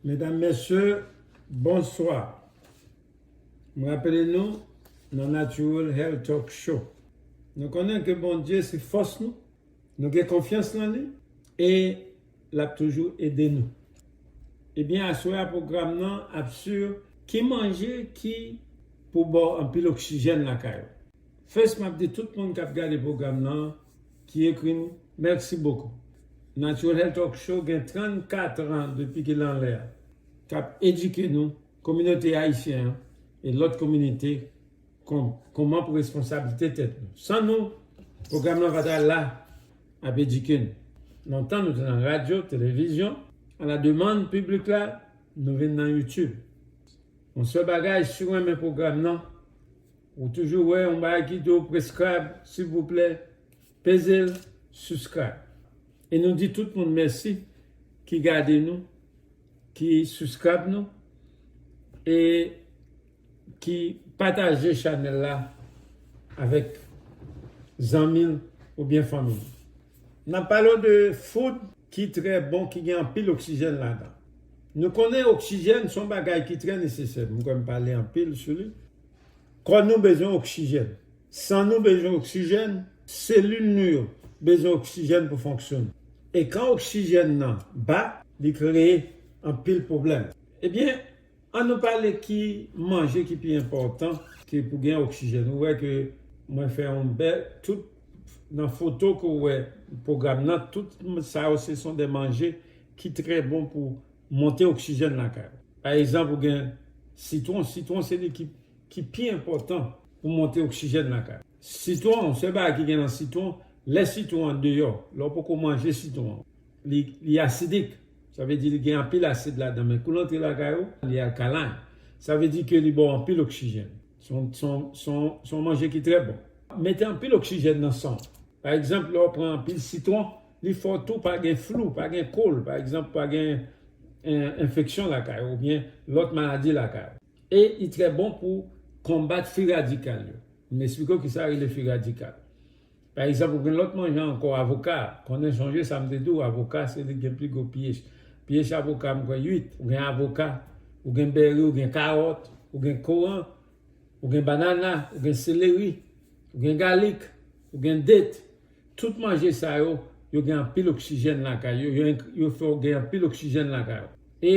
Medam, Mesye, bonswa! M rapele nou nan Natural Health Talk Show, nou konnen ke Bondye se fòs nou, nou gen konfyans nan li e l ap toujou ede nou. Ebyen, aswè a pwogram nan ap sur ki manje ki pou ba w anpil oksijèn lakay ou. First m ap di tout moun k ap gade pwogram nan Ki ekri nou. Merci beaucoup. Natural Health Talk Show gen 34 ans depi ke l anlè a. K ap edike nou, kominote ayisyen an e lòt kominite kon kouman pou responsablite tèt nou. San nou, pwogram lan pa ta la ap edike nou. Lontan nou te nan radyo, televizyon, a la demann piblik la, nou vin nan YouTube. Yon sèl bagay, si w renmen pwogram lan, Ou toujou wè yon bagay ki di w prescribe silvouplè peze l subscribe e nou di tout moun mèsi ki gade nou ki subscribe nou e ki pataje chanèl la avèk zanmi l oubyen fanmi l. Nan pale w de food ki trè bon ki gen anpil oksijèn ladan. Nou konnen oksijèn son bagay ki trè nesesè, m kwè m pale anpil sou li. Kò nou bezwen oksijèn, san nou bezwen oksijèn, selil nou yo bezwen oksijèn pou fonksyone. E kan oksijèn nan ba, li kreye anpil pwoblèm. Ebyen, An nou pale ki manje ki pi enpòtan ke pou gen oksijèn. Ou wè ke mwen fè yon bè tout nan foto ke ou wè pwogram nan, tout sa yo se son de manje ki trè bon pou monte oksijèn lakay ou. Pa egzanp ou gen sitwon, sitwon se li ki pi enpòtan pou monte oksijèn lakay ou. Sitwon, sèl bagay ki gen nan sitwon, lè sitwon an deyò, lè ou poko manje sitwon an, Li asidik, sa vle di li gen anpil asid ladan men kou l antre lakay ou, li alkaline. Sa vle di ke li ba w anpil oksijèn. Se yon manje ki trè bon. Mete anpil oksijèn nan san w. Pa egzanp, lè w pran anpil sitwon, li fè w tou pa gen flou, pa gen kol, pa egzanp, pa gen enfeksyon lakay ou oubyen lòt maladi lakay ou. E li trè bon pou konbat fi radikal yo. M esplike w kisa rele fi radikal. Pa egzanp, ou gen lòt manjan ankò, avoka. Konnen, sonje sa m te di w, avoka se li ki gen pi gwo piyes. Piyes avoka, m kwè 8. Ou gen avoka, ou gen beri, ou gen karòt, ou gen koran, ou gen banana, ou gen seleri, ou gen galik, ou gen det. Tout manje sa yo, yo gen anpil oksijèn lakay yo, yo fè w gen anpil oksijèn lakay ou. E.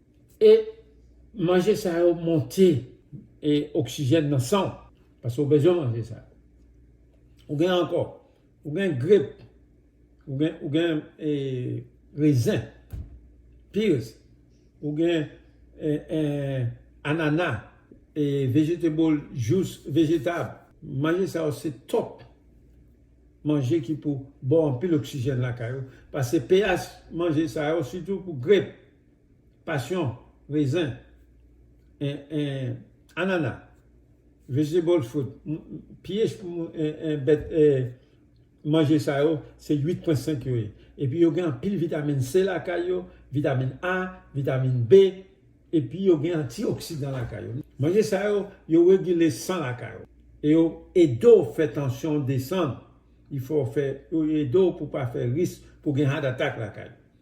E manje sa yo monte e oksijèn nan san w paske w bezwen manje sa yo. Ou gen ankò, ou gen grep, ou gen rezen, pears, ou gen anana, vegetable jous vejetab. Manje sa yo se top manje ki pou ba w anpil oksijèn lakay ou paske pH manje sa yo sitou pou grep. Pasyon, rezen, anana, vegetable fruit, piyes bèt manje sa yo se 8 pwen 5 yo ye. Epi yo gen anpil vitamin C lakay yo, vitamin A, vitamin B, epi yo gen antioksidan lakay yo. Manje sa yo, yo regile san lakay ou. E yo ede w fè tansyon w desann. Yo ede w pou w pa fè risk pou gen heart attack lakay ou.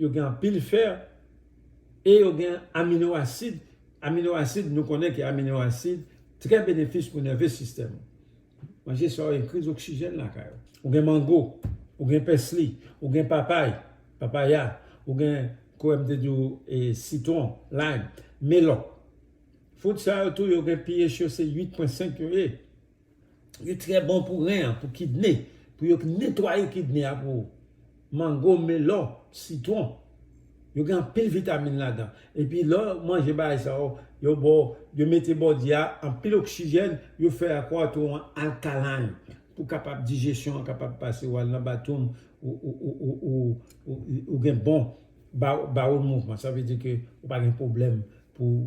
Yo gen anpil fer e yo gen amino asid, amino asid nou konnen ke amino asid trè benefis pou nève sistèm ou. Manje sa yo enkriz oksijèn lakay ou. Ou gen mango, ou gen pèsli, ou gen papay, papaya, ou gen kouwè m te di w e sitwon, lime, melon. Fout sa yo tou yo gen pH yo se 8.5 yo ye. Li trè bon pou ren an, pou kidne, pou yo netwaye kidne a pou ou. Mango, melon, sitwon, yo gen anpil vitamin ladan. Epi lè w manje bagay sa yo, yo ba w, yo mete body a anpil oksijèn, yo fè kò a tou alkaline pou kapab dijesyon an kapab pase, wal nan bathroom ou gen bon bowel movement, sa vle di ke ou pa gen pwoblèm pou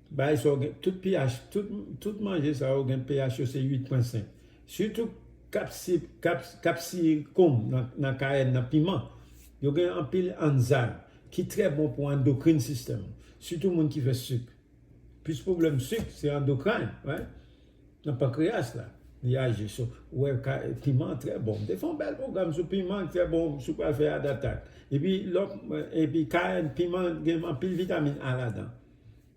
Bay sa w gen tout pH tout manje sa yo gen pH yo se 8 pwen 5 sitou kapsikonm nan kayèn nan piman yo gen anpil anzym ki trè bon pou andokrin sistèm ou sitou moun ki fè sik plis pwoblèm sik se andokrayn nan pankreyas la li aji so ou wè piman trè bon m te fè yon bèl pwogram sou piman ki trè bon si w pral fè yadatak epi kayèn piman gen anpil vitamin A ladan.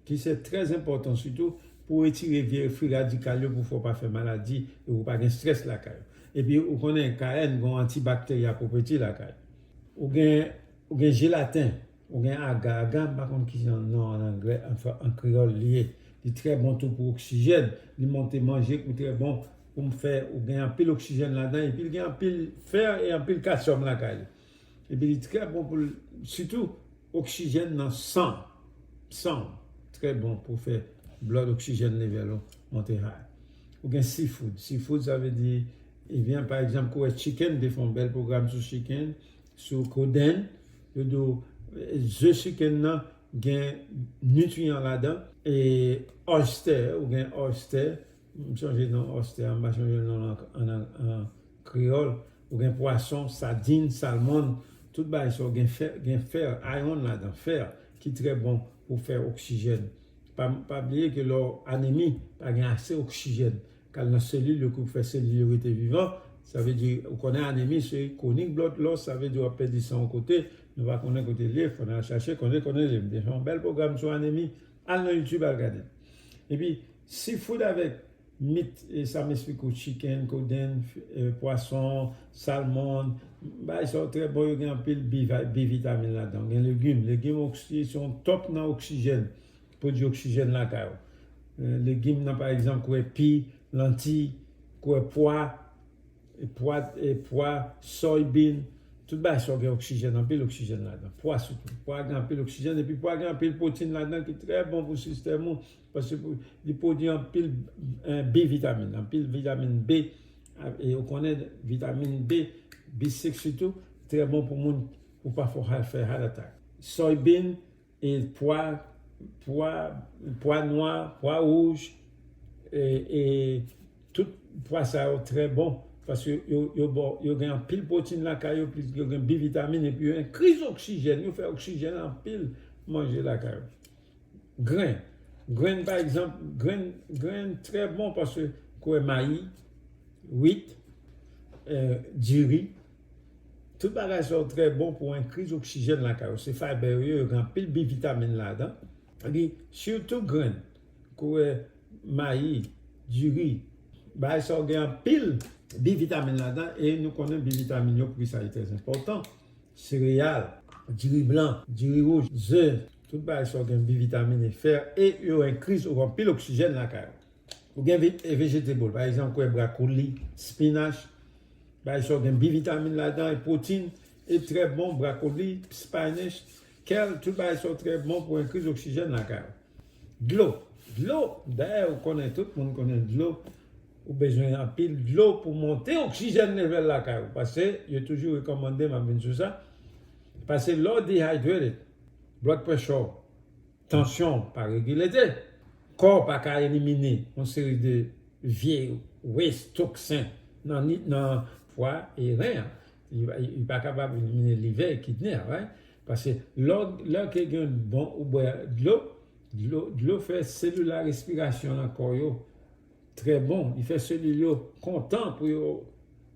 ki se trè enpòtan sitou pou w etire vye fwi radikal yo pou fè w pa fè maladi e pou w pa gen strès lakay ou. Epi ou konnen KN gon antibakterya pwopèti lakay. Ou gen ou gen jelaten, ou gen aga, aga m pa konn ki jan non an anglè anfen an kreyòl li ye. Li trè bon tou pou oksijèn, li monte manje kou trè bon pou m fè ou gen anpil oksijèn ladan epi l gen anpil fè e anpil kasyòm lakay li. Epi li trè bon pou sitou oksijèn nan san san ou trè bon pou fè blood oxygen level ou monte high. Ou gen sea food, sea food sa vle di vyann pa egzanp kou wè chicken m te fè yon bèl pwogram sou chicken sou kodenn yo di w ze chicken nan gen nitriyan ladan e oyster ou gen oyster M chanje non oyster a m pa chanje l non an kreyòl ou gen pwason, sadin, salmon tout bagay sa yo gen fer, iron, ladan fer ki trè bon pou fè oksijèn pa bliye ke lè w anemi pa gen ase oksijèn k al nan selil yo pou fè selil yo rete vivan sa vle di ou konnen anemi se kwonik blòt lòs sa vle di w ap pèdi san yon kote nou pa konnen kote l ye fò n al chache konnen konnen l ye m te fè yon bèl pwogram sou anemi al nan youtube al gade l epi Seafood avèk mit e sa m esplike w chicken, kodenn, pwason, salmon, bagay sa yo trè bon yo gen anpil B vitamin ladan. Gen legim, legim se yon top nan oksijèn, pwodui oksijèn lakay ou. Legim nan pa egzanp kwè pi, lantiy, kwè pwa, pwa, soy bean, tout bagay sa yo gen oksijèn, anpil oksijèn ladan. Pwa sitou, pwa gen anpil oksijèn epi pwa gen anpil pwotin ladan ki trè bon pou sistèm ou. Paske li pwodui anpil B vitamin, anpil vitamin B, e ou konnen vitamin B, B6 sitou, trè bon pou moun pou pa fè heart attack. Soybean e pwa, pwa, pwa nwa, pwa wouj, e tout pwa sa yo trè bon paske yo ba w, yo gen anpil pwotin lakay yo, plis yo gen B vitamin epi yo enri oksijèn, yo fè oksijèn anpil manje lakay ou. Grenn, grenn pa egzanp, grenn, grenn trè bon paske kouwè mayi, wit, diri, tout bagay sa yo trè bon pou enkriz oksijèn lakay ou, se fayber yo ye, yo gen anpil bi vitamin ladan, epi sitou grenn, kouwè mayi, diri, bagay sa yo gen anpil bi vitamin ladan e nou konnen bi vitamin yo poukisa li trè enpòtan, sereyal, diri blan, diri wouj, ze, Tout bagay sa yo gen bi vitamine, fer e yo enkri sou anpil oksijèn lakay ou. Ou gen vegetable pa egzanp kwè brakoli, spinach, bagay sa yo gen bi vitamine ladan e protein e trè bon brakoli, spinach, kèl tout bagay sa yo trè bon pou enkri oksijèn lakay ou. Dlo, dlo dayè ou konnen tout moun konnen dlo ou bezwen anpil dlo pou monte oksijèn level lakay ou pase yo toujou rekomande map vin sou sa pase lè ou dehydrated Blood pressure, tansyon pa regilete, kò pa ka elimine yon seri de vye waste, toksen nan fwa e ren an. Li pa kapab elimine livè e kidne a right. Paske lò ke gen bon ou bwè dlo, dlo fè selil a respirasyon nan kò yo trè bon, li fè selil yo kontan pou yo.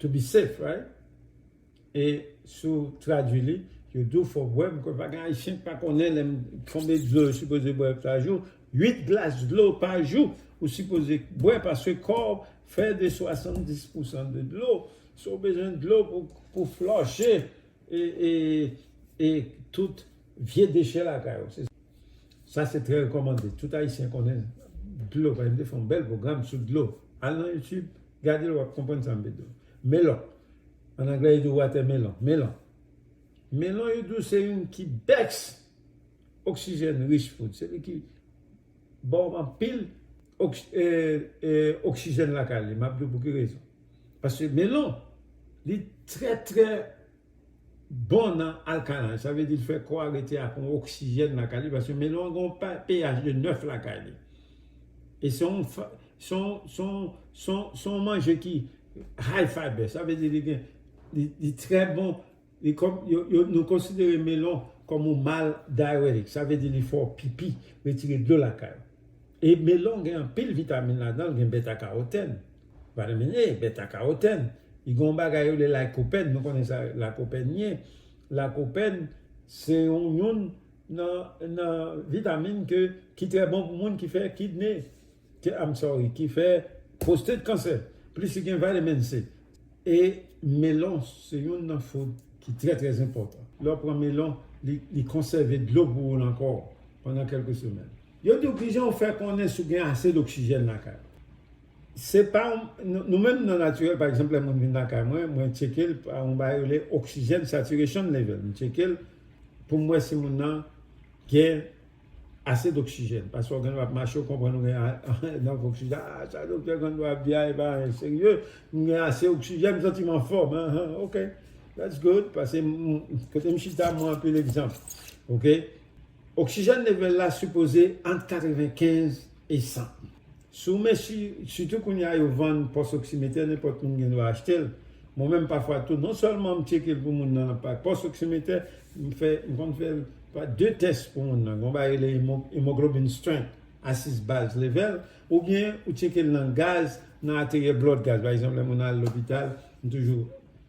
To be safe right e si w tradwi li yo di w fò w bwè m kwè pa gen ayisyen ki pa konnen lè m konbe dlo yo sipoze bwè pa jou 8 glas dlo pa jou ou sipoze bwè paske kò w fè de 70 pousan de dlo so w bezwen dlo pou flòche e tout vye dechè lakay ou sa se trè rekòmande tout ayisyen konnen dlo pa gen m te fè yon bèl pwogram sou dlo al nan youtube Gade l w ap konprann sa m vle di w. Melon, an anglè yo di l watermelon, melon. Melon yo di w se youn ki best oxygen rich food, se li ki ba w anpil oxygen lakay li. M ap di w pou ki rezon. Paske melon li trè trè. bon nan alkalan, sa vle di l fè kò a rete ak yon oksijèn lakay li paske melon an gen yon pH de 9 lakay li e se yon se yon manje ki high fiber sa vle di li gen li trè bon nou konsidere melon kòm yon mal diuretic sa vle di li fè w pipi retire dlo lakay ou. E melon gen anpil vitamin ladan l gen beta karotèn vitamin A beta karotèn li gen yon bagay yo rele lycopene nou konnen sa lycopene ye lycopene se yon youn nan vitamin ke ki trè bon pou moun ki fè kidney I'm sorry ki fè prostate cancer plis li gen vitamin C e melon se youn nan food ki trè trè enpòtan lè w pran melon li konsève dlo pou ou nan kò w pandan kèlke semèn. Yo di w kijan w fè konnen si w gen ase doksijèn lakay ou. Se pa Nou menm nan natirèl pa egzanp lè moun vin lakay mwen, mwen tcheke l pa yon bagay yo rele oxygen saturation level. M tcheke l pou m wè si moun nan gen ase doksijèn. Pafwa w gen lè w ap mache w konprann ou gen mank oksijèn. A sa doktè Gando ap di a e pa anyen serye. M gen ase oksijèn, m santi m anfòm. Ok, that's good. Pase m kote m chita m anpil egzanp. Ok. Oksijèn level la sipoze ant 95 e 100. Si w mesi, sitou kounye a yo vann pos oksimetè nenpot moun gen dwa achte l. Mwen menm pafwa tou non selman m tcheke l pou moun nan pa pos oksimetè, m fè m konn fè l pa 2 tès pou moun nan. Gon bagay rele hemoglobin strength, asis baz level, ou byen ou tcheke l nan gaz nan ateryè blod gaz. Pa egzanp lè moun al lopital m toujou.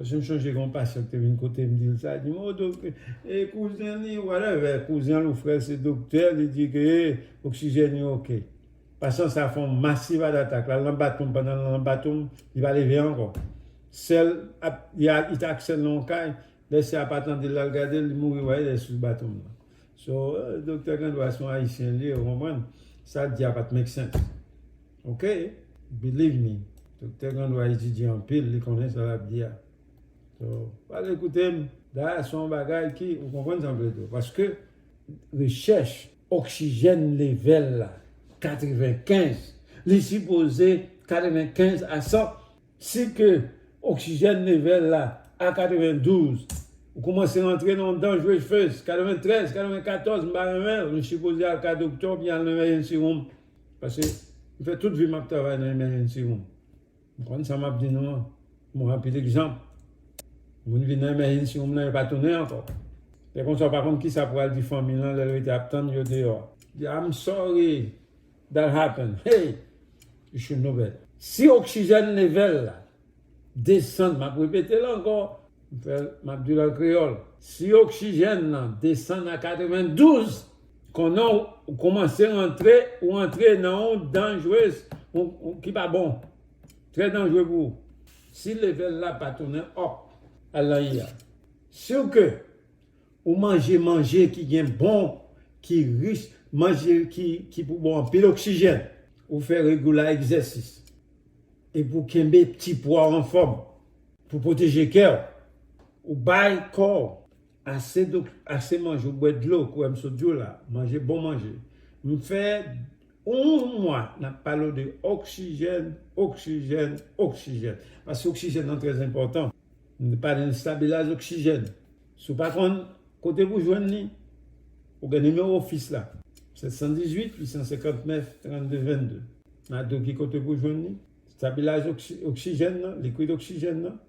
Paske m sonje gen yon pasteur ki te vin kote m di l sa, li di m oh dok e kouzen li whatever, kouzen l ou frè l se doktè, li di ke e oksijèn yo ok. Pasyan sa fè yon massive heart attack, l al nan bathroom pandan l nan bathroom li pa leve ankò. Sè l ap, li t ak sè l nan yon kay, lè sè a pa tande l l al gade l, li mouri wè lè sou bathroom nan. So, doktè gen dwa se yon ayisyen l ye ou konprann, sa l di a pa t make sense. Ok believe me Doktè Grandois etidye anpil li konnen sa lap di a so pa al ekoute m Dayè son bagay ki ou konprann sa m vle di w paske rechèch oksijèn level la 95 li sipoze 95 a 100 si ke oksijèn level la a 92 ou koumanse rantre nan yon dangerous phase 93 94 m pa renmen l m sipoze al ka doktè oubyen al nan yon emergency room Pase m fè tout vi m ap travay nan emergency room. M konn sa m ap di nou an. M wè anpil egzanp. Moun vin nan emergency room nan yo pa tounen ankò. Lè konsa ou pa konn kisa pou al di fanmi l lan lè l rete ap tann yo deyò a. Di I'm sorry that happened. Hey! You should know better. Si oksijèn level la desann, m ap repete l ankò, m fè l, m ap di l an kreyòl, si oksijèn lan desann a 92, konnen w koumanse rantre, ou antre nan yon danjrez, yon ki pa bon, trè danjre pou ou. Si levèl la pa tounen up, al nan I a. Si w ke ou manje manje ki gen bon, ki rich, manje ki pou bon anpil oksijèn, ou fè regula egzèsis, E pou kenbe ti pwa w anfòm. Pou pwoteje kè w. Ou bay kò w ase do, ase manje, ou bwè dlo kouwè m sot di w la, manje bon manje. M fè yon mwa n ap pale w de oksijèn, oksijèn, oksijèn. Paske oksijèn nan trèzenpòtan. Nou te pale de stabilaz oksijèn. Si w pa konn kote pou jwenn li, ou gen nimewo ofis la, 718 859 32 22. Map di w ki kote pou jwenn li, stabilaz oksijèn nan, likwid oksijèn nan,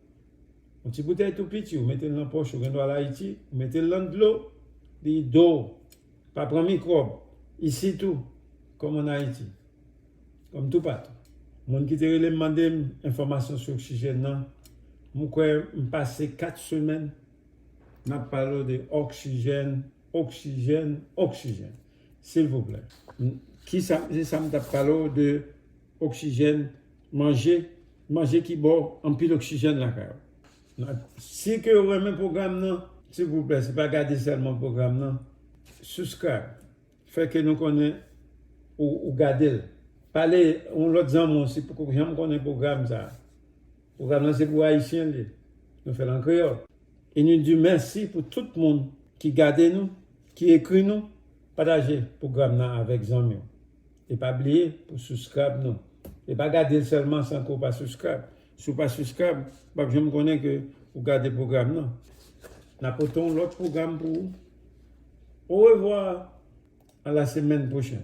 yon ti boutèy tou piti ou mete l nan pòch ou, gen dwa al Ayiti, ou mete l nan dlo, li do, pa pran mikwòb, isit tou, kòm an Ayiti. Kòm toupatou, moun ki te rele m mande m enfòmasyon sou oksijèn nan, m kwè m pase 4 semèn n ap pale w de oksijèn, oksijèn, oksijèn. Silvouplè, ki sa m se sa m t ap pale w de oksijèn, manje, manje ki ba w anpil oksijèn lakay ou. Si ke ou renmen pwogram nan, silvouplè, se pa gade sèlman pwogram nan, subscribe, Fè ke nou konnen ou gade l. Pale yon lòt zanmi w si poko janm konnen pwogram sa a. Pwogram lan se pou Ayisyen l ye. Nou fè l an kreyòl. E nou di mèsi pou tout moun ki gade nou, ki ekri nou. Pataje pwogram nan avèk zanmi w. E pa bliye pou souskrayb nou. E pa gade l sèlman san ke w pa souskrayb. Si w pa suscrab, w pap janm konnen ke ou gade pwogram nan. N a pote yon lòt pwogram pou ou. Orevwa! A la semèn pwochèn!